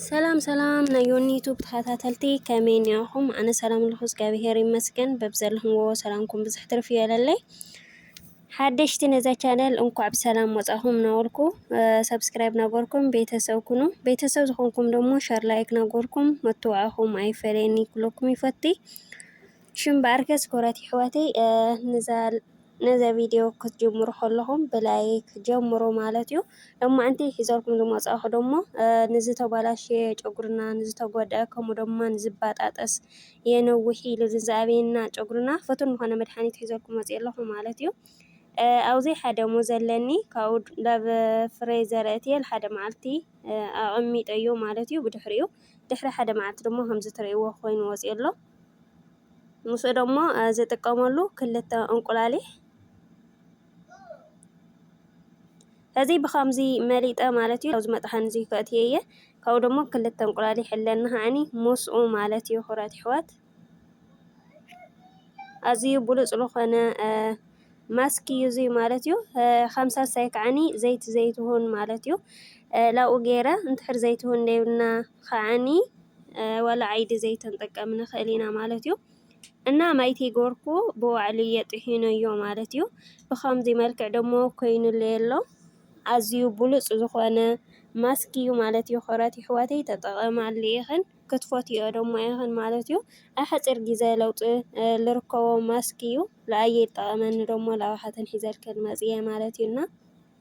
ሰላም ሰላም ናይ ዮኒ ዩቱብ ተኸታተልቲ ከመይ ኒኹም? ኣነ ሰላም ኣለኹ እግዚኣብሄር ይመስገን። በብዘለኹምዎ ሰላምኩም ብዝሕ ትርፍ ይበለለይ። ሓደሽቲ ነዛ ቻነል እንኳዕ ብሰላም መፃኹም ናበልኩ ሰብስክራይብ ናገበርኩም ቤተሰብ ኩኑ ቤተሰብ ዝኾንኩም ደሞ ሸር ላይክ ናገበርኩም መተዋዕኹም ኣይፈለየኒ ክብለኩም ይፈቲ ሽም በኣርከስ ክብረት ይሕዋተይ ነዛ ቪድዮ ክትጅምሩ ከለኹም ብላይክ ጀምሩ ማለት እዩ ደሞ ኣንቲ ሒዘልኩም ዝመፃኹ ደሞ ንዝተባላሸየ ጨጉርና ንዝተጎድአ ከምኡ ደማ ንዝባጣጠስ የንውሕ ኢሉ ዝዘኣበየና ጨጉርና ፍቱን ዝኾነ መድሓኒት ሒዘልኩም መፂኤ ኣለኹ ማለት እዩ። ኣብዙይ ሓደ ሙዝ ኣለኒ ካብኡ ናብ ፍረ ዘርእትየ ሓደ መዓልቲ ኣቐሚጠዮ ማለት እዩ ብድሕሪኡ ድሕሪ ሓደ መዓልቲ ድማ ከምዚ ትርእይዎ ኮይኑ ወፂኡ ኣሎ ምስኡ ደሞ ዝጥቀመሉ ክልተ እንቁላሊሕ እዚ ብኸምዚ መሊጠ ማለት እዩ ኣብዚ መጥሓኒ እዚ ከእትየየ ካብኡ ደሞ ክልተ እንቁላል ይሕለኒ ከዓኒ ምስኡ ማለት እዩ ክብራት ኣሕዋት ኣዝዩ ብሉፅ ዝኾነ ማስክ እዩ እዚ ማለት እዩ ከም ሳልሳይ ከዓኒ ዘይቲ ዘይትሁን ማለት እዩ ላብኡ ገይረ እንትሕር ዘይትሁን ደይብና ከዓኒ ዋላ ዓይዲ ዘይትን ጥቀም ንኽእል ኢና ማለት እዩ እና ማይ ተይገበርኩ ብባዕለየ ጥሒነዮ ማለት እዩ። ብኸምዚ መልክዕ ደሞ ኮይኑለይ ኣሎ። ኣዝዩ ብሉጽ ዝኾነ ማስክ እዩ ማለት እዩ። ክብራት የሕዋተይ ተጠቐማሉ ኢኽን ክትፈትይኦ ደሞ ኢኽን ማለት እዩ። ኣብ ሓጺር ግዘ ለውጢ ልርከቦ ማስክ እዩ። ልኣየይ ልጠቐመኒ ደሞ ላብኻትክን ሒዘልክን መጽየ ማለት እዩ። እና።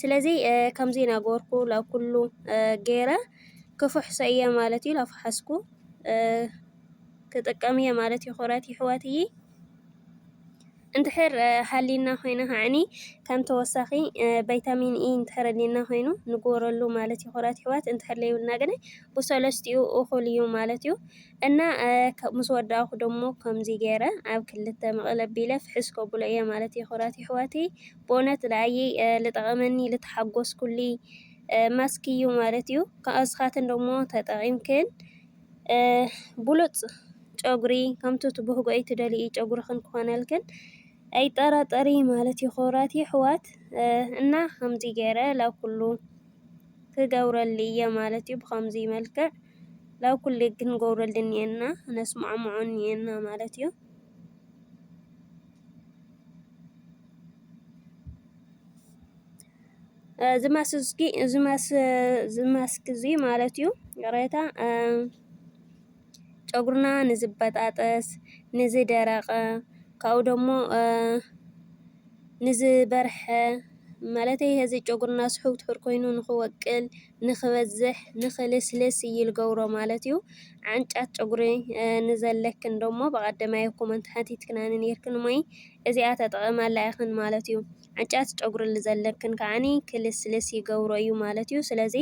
ስለዚ ከምዚ ናገበርኩ ላብ ኩሉ ገይረ ክፍሕሶ እየ ማለት እዩ። ላፍሓስኩ ክጥቀም እየ ማለት እዩ። ክብረት ይሕወት እዪ እንድሕር ሃሊና ኮይነ ከዓኒ ከም ተወሳኺ ቫይታሚን ኢ እንድሕር ኣሊና ኮይኑ ንግበረሉ ማለት እዩ። ክብረት ይሕወት እንድሕር ለይብልና ግን ብሰለስቲኡ እኹል እዩ ማለት እዩ። እና ምስ ወዳእኩ ደሞ ከምዚ ገይረ ኣብ ክልተ መቐለ ኣቢለ ፍሕስ ከብሎ እየ ማለት እየ ክብራት የሕዋተይ ብእውነት ልኣየይ ልጠቐመኒ ልተሓጎስኩልይ ማስክ እዩ ማለት እዩ ንስኻትን ደሞ ተጠቒምክን ብሉጽ ጨጉሪ ከምቲ ትብህጎይ ትደልይ ጨጉርኽን ክኾነልክን ኣይጠራጠሪ ማለት እዩ ክብራት የሕዋት እና ከምዚ ገይረ ላኩሉ ክገብረሉ እየ ማለት እዩ ብኸምዚ መልክዕ ላብ ኩሌ ክንገብረሉ እንሄና ክነስማዕምዖ እንሄና ማለት እዩ። እዚ ማስክ እዚ እዚ ማስክ እዚ ማለት እዩ ይቕሬታ ጨጉርና ንዝበጣጠስ ንዝደረቐ ካብኡ ደሞ ንዝበርሐ ማለተይ ጨጉርና ስሑው ትሑር ኮይኑ ንኽወቅል ንክበዝሕ ንክልስልስ እዪ ልገብሮ ማለት እዩ ዓንጫት ጨጉሪ ንዘለክን ደሞ በቀደማይ ኮመንት ሓቲትክናኒ ነይርክን እሞይ እዚኣ ተጠቂማላ ኢክን ማለት እዩ ዓንጫት ጨጉሪ ልዘለክን ከዓኒ ክልስልስ ይገብሮ እዩ ማለት እዩ ስለዚ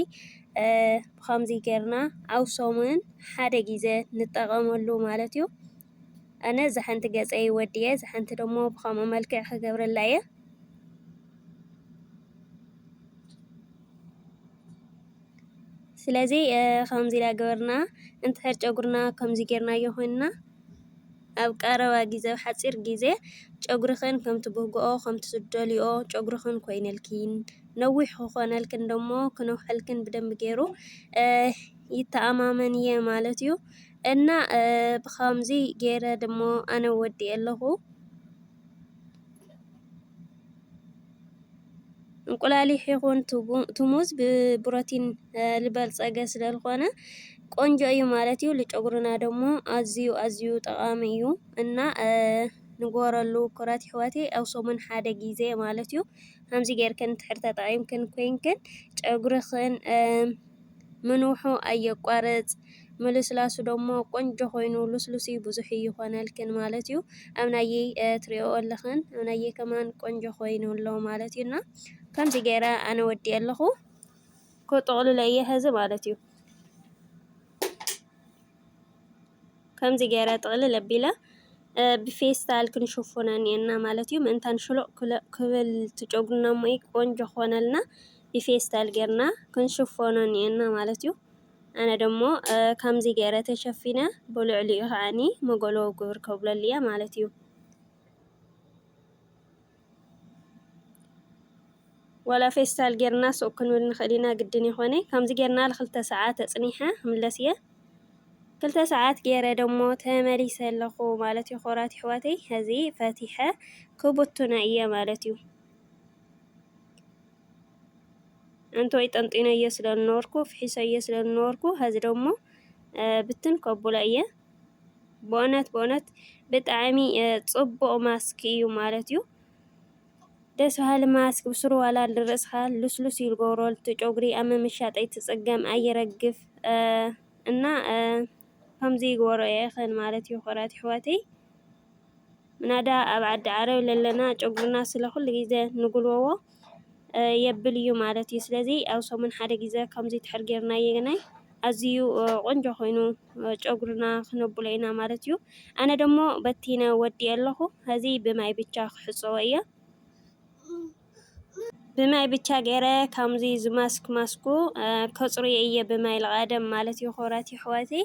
ብከምዚ ጌርና ኣብ ሰሙን ሓደ ግዜ ንጠቀመሉ ማለት እዩ ኣነ እዛ ሓንቲ ገፀይ ወድየ እዛ ሓንቲ ደሞ ብከምኡ መልክዕ ክገብረላ እየ ስለዚ ከምዚ እናገበርና እንድሕር ጨጉርና ከምዚ ጌርናዮ ኮይንና ኣብ ቀረባ ግዜ ኣብ ሓጺር ግዜ ጨጉርኽን ከምቲ ብግብኦ ከምቲ ዝደልይኦ ጨጉርኽን ኮይነልኪን ነዊሕ ክኾነልክን ደሞ ክነውሐልክን ብደንቢ ጌሩ ይተኣማመን እየ ማለት እዩ። እና ብኸምዚ ጌረ ደሞ ኣነ ወዲኤ ኣለኹ። እንቁላሊሕ ይኹን ትሙዝ ብፕሮቲን ዝበልፀገ ስለዝኾነ ቆንጆ እዩ ማለት እዩ። ልጨጉርና ደግሞ ኣዝዩ ኣዝዩ ጠቃሚ እዩ እና ንጎረሉ ኩረት ይሕወቴ ኣብ ሰሙን ሓደ ጊዜ ማለት እዩ። ከምዚ ጌርክን እንድሕር ተጠቂምክን ኮይንክን ጨጉርኽን ምንውሑ ኣየቋርጽ ምልስላሱ ደሞ ቆንጆ ኮይኑ ሉስሉስይ ብዙሕ እይኾነልክን ማለት እዩ ኣብናየይ ትሪኦኦ ኣለኽን ኣብናየይ ከማን ቆንጆ ኮይኑ ኣሎ ማለት እዩ እና ከምዚ ገይረ ኣነ ወዲኤ ኣለኹ ክጥቕልሎ እየ ሀዚ ማለት እዩ ከምዚ ገይረ ጥቕልል ኣቢለ ብፌስታል ክንሽፉነን እየና ማለት እዩ ምእንታን ሽሎቕ ክብል ትጨጉና እሞ ቆንጆ ክኾነልና ብፌስታል ጌርና ክንሽፎኖ እኒኤና ማለት እዩ። ኣነ ደሞ ከምዚ ገይረ ተሸፊነ ብልዕሊኡ ከዓኒ መጎሎ ግብር ከብለሉ እየ ማለት እዩ። ዋላ ፌስታል ጌርና ሱቅ ክንብል ንኽእል ኢና ግድን ይኾነ። ከምዚ ጌርና ንክልተ ሰዓት ተጽኒሐ ክምለስ እየ። ክልተ ሰዓት ገይረ ደሞ ተመሊሰ ኣለኹ ማለት እዩ። ኮራት ይሕዋተይ ሕዚ ፈቲሐ ክቡቱና እየ ማለት እዩ። ኣንተወይ ጠንጢነዮ ስለ ዝነበርኩ ፍሒሰዮ ስለ ዝነበርኩ ሀዚ ደሞ ብትን ከብሎ እየ ብእውነት ብእውነት ብጣዕሚ ፅቡቕ ማስክ እዩ ማለት እዩ ደስ በሃሊ ማስክ ብስሩ ዋላ ንርእስኻ ልስሉስ እዩ ዝገብሮ ጨጉሪ ኣብ ምምሻጥ ኣይትፅገም ኣይረግፍ እና ከምዚ ይግበሮ እየ ማለት እዩ ክብራት ኣሕዋተይ ምናዳ ኣብ ዓዲ ዓረብ ለለና ጨጉርና ስለ ኩሉ ግዜ ንጉልበዎ የብል እዩ ማለት እዩ። ስለዚ ኣብ ሰሙን ሓደ ግዜ ከምዚ ትሕር ጌርናዮ ግናይ ኣዝዩ ቆንጆ ኮይኑ ጨጉርና ክነብሎ ኢና ማለት እዩ። ኣነ ደሞ በቲነ ወዲኤ ኣለኹ ሀዚ ብማይ ብቻ ክሕፀቦ እየ። ብማይ ብቻ ገይረ ከምዚ ዝማስክ ማስኩ ከፅርዮ እየ ብማይ ልቓደም ማለት እዩ ክብራት ይሕዋተይ።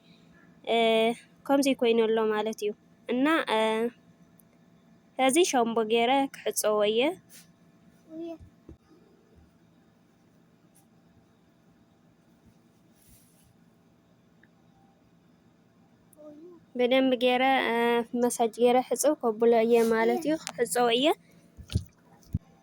ከምዙይ ኮይኑ ኣሎ ማለት እዩ እና ከዚ ሻምቦ ገይረ ክሕፀቦ እየ በደንብ ገይረ መሳጅ ገይረ ሕፅብ ከብሎ እየ ማለት እዩ ክሕፀቦ እየ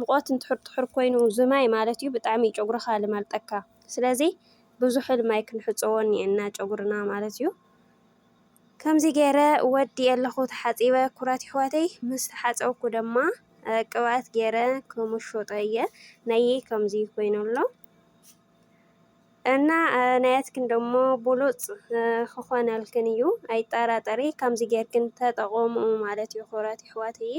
ሙቆት እንድሕር ጥሑር ኮይኑ ዝማይ ማለት እዩ ብጣዕሚ እዩ ጨጉርኻ ልማልጠካ ስለዚ ብዙሕል ማይ ክንሕፀቦ እኒኤና ጨጉርና ማለት እዩ። ከምዚ ገይረ ወዲ ኣለኹ ተሓፂበ ኩራት ይሕዋተይ ምስ ተሓፀብኩ ደማ ቅብኣት ገይረ ክምሾጦ እየ ናየይ ከምዚ ኮይኑ ኣሎ እና ናያትክን ደሞ ብሉፅ ክኾነልክን እዩ ኣይጠራጠሪ ከምዚ ጌርክን ተጠቐሙ ማለት እዩ ኩራት ይሕዋተይ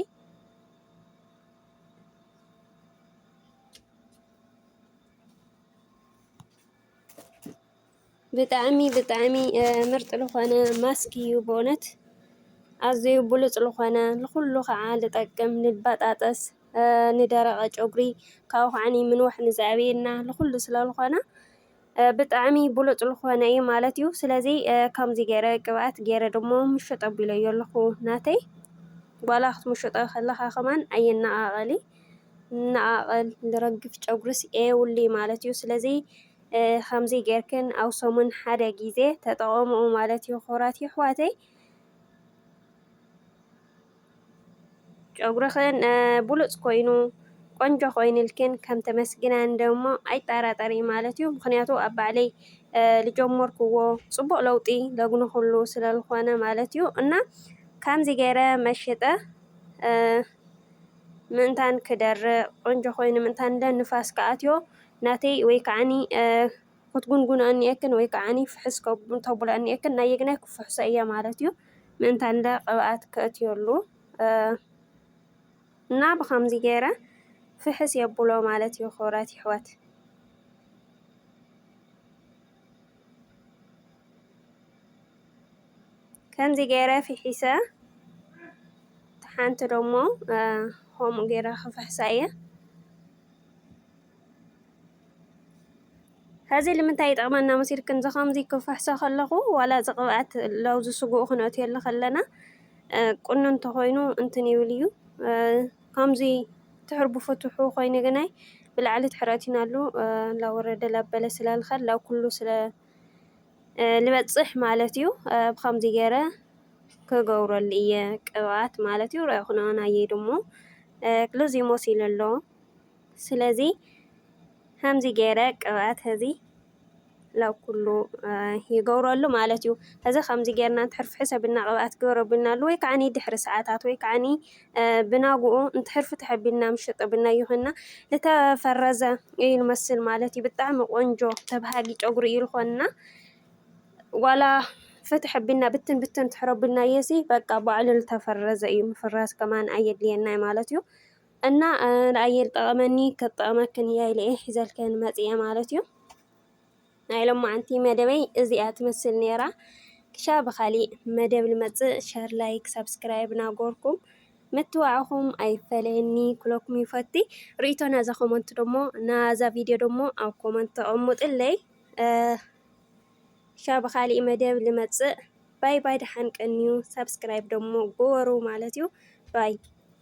ብጣዕሚ ብጣዕሚ ምርጥ ዝኾነ ማስክ እዩ በእውነት ኣዝዩ ብሉፅ ዝኾነ ንኹሉ ከዓ ልጠቅም ንባጣጠስ ንደረቀ ጨጉሪ ካብኡ ከዓ ምንዋሕ ንዘዕብየና ንኹሉ ስለልኾነ ብጣዕሚ ብሉጽ ልኾነ እዩ ማለት እዩ ስለዚ ከምዚ ገይረ ቅብኣት ገይረ ድሞ ምሹጥ ኣቢለዮ ኣለኹ ናተይ ጓላ ክትምሹጦ ከለኻ ከማን ኣየነቓቐሊ ነቓቐል ዝረግፍ ጨጉርስ ኤውሊ ማለት እዩ ስለዚ ከምዚ ገይርክን ኣብ ሰሙን ሓደ ግዜ ተጠቐምኡ ማለት እዩ ክብራት ይሕዋተይ ጨጉርኽን ብሉፅ ኮይኑ ቆንጆ ኮይንልክን ከም ተመስግናኒ ደሞ ኣይጠራጠሪ ማለት እዩ። ምክንያቱ ኣብ ባዕለይ ልጀመርክዎ ፅቡቅ ለውጢ ለግንክሉ ስለልኾነ ማለት እዩ። እና ከምዚ ገይረ መሽጠ ምእንታን ክደርቅ ቆንጆ ኮይኑ ምእንታን ንፋስ ክኣትዮ ናተይ ወይ ከዓኒ ክትጉንጉንኦ እኒኤክን ወይ ከዓኒ ፍሕስ ክተብሎ እኒኤክን ናየግናይ ክፍሕሶ እየ ማለት እዩ ምእንታን እንደ ቅብኣት ክእትየሉ እና ብኸምዚ ገይረ ፍሕስ የብሎ ማለት እዩ ክብረት ይሕወት ከምዚ ገይረ ፍሒሰ ሓንቲ ደሞ ከምኡ ገይረ ክፍሕሳ እየ ሀዚ ልምንታይ ይጠቅመና መሲልክን ዝከምዚ ክፍሕሶ ከለኩ ዋላ እዚ ቅብኣት ለውዝ ስግኡ ክንእትወሉ ከለና ቁኑን ተኮይኑ እንትን ይብል እዩ ከምዚ ትሕርቡ ፍትሑ ኮይኑ ግናይ ብላዕሊ ትሕረቲናሉ ላወረደ ላበለ ስላልከል ላው ኩሉ ስለ ልበጽሕ ማለት እዩ ብከምዚ ገይረ ክገብረሉ እየ ቅብኣት ማለት እዩ ርኣኹናን ኣየይ ድሞ ክልዚ ሞሲለ ኣሎ ስለዚ ከምዚ ገይረ ቅብኣት እዚ ናብ ኩሉ ይገብረሉ ማለት እዩ። እዚ ከምዚ ገይርና እንድሕር ፍሕስ ኣቢልና ቅብኣት ግበር ኣቢልናሉ ወይ ከዓኒ ድሕሪ ሰዓታት ወይ ከዓኒ ብናግኡ እንድሕር ፍትሕ ኣቢልና ምሽጥ ኣቢልናዮ ኮይንና ዝተፈረዘ እዩ ንመስል ማለት እዩ። ብጣዕሚ ቆንጆ ተብሃጊ ጨጉሪ እዩ ዝኾንና። ዋላ ፍትሕ ኣቢልና ብትን ብትን እንድሕር ኣቢልናዮሲ በቃ ባዕሉ ዝተፈረዘ እዩ። ምፍራዝ ከማን ኣየድልየናይ ማለት እዩ። እና ንኣየር ጠቐመኒ ከጠቐመክን እያ ኢለ እየ ሒዘልክን መፅየ ማለት እዩ ናይ ሎማዓንቲ መደበይ እዚኣ ትመስል ነይራ ክሻ ብኻሊእ መደብ ልመፅእ ሸር ላይክ ሳብስክራይብ ናጎርኩም ምትዋዕኹም ኣይፈለየኒ ኩለኩም ይፈቲ ርእቶ ናዛ ኮመንት ደሞ ናዛ ቪድዮ ደሞ ኣብ ኮመንት ተቐምጥለይ ክሻ ብኻሊእ መደብ ልመፅእ ባይ ባይ ደሓን ቀንዩ ሳብስክራይብ ደሞ ጎበሩ ማለት እዩ ባይ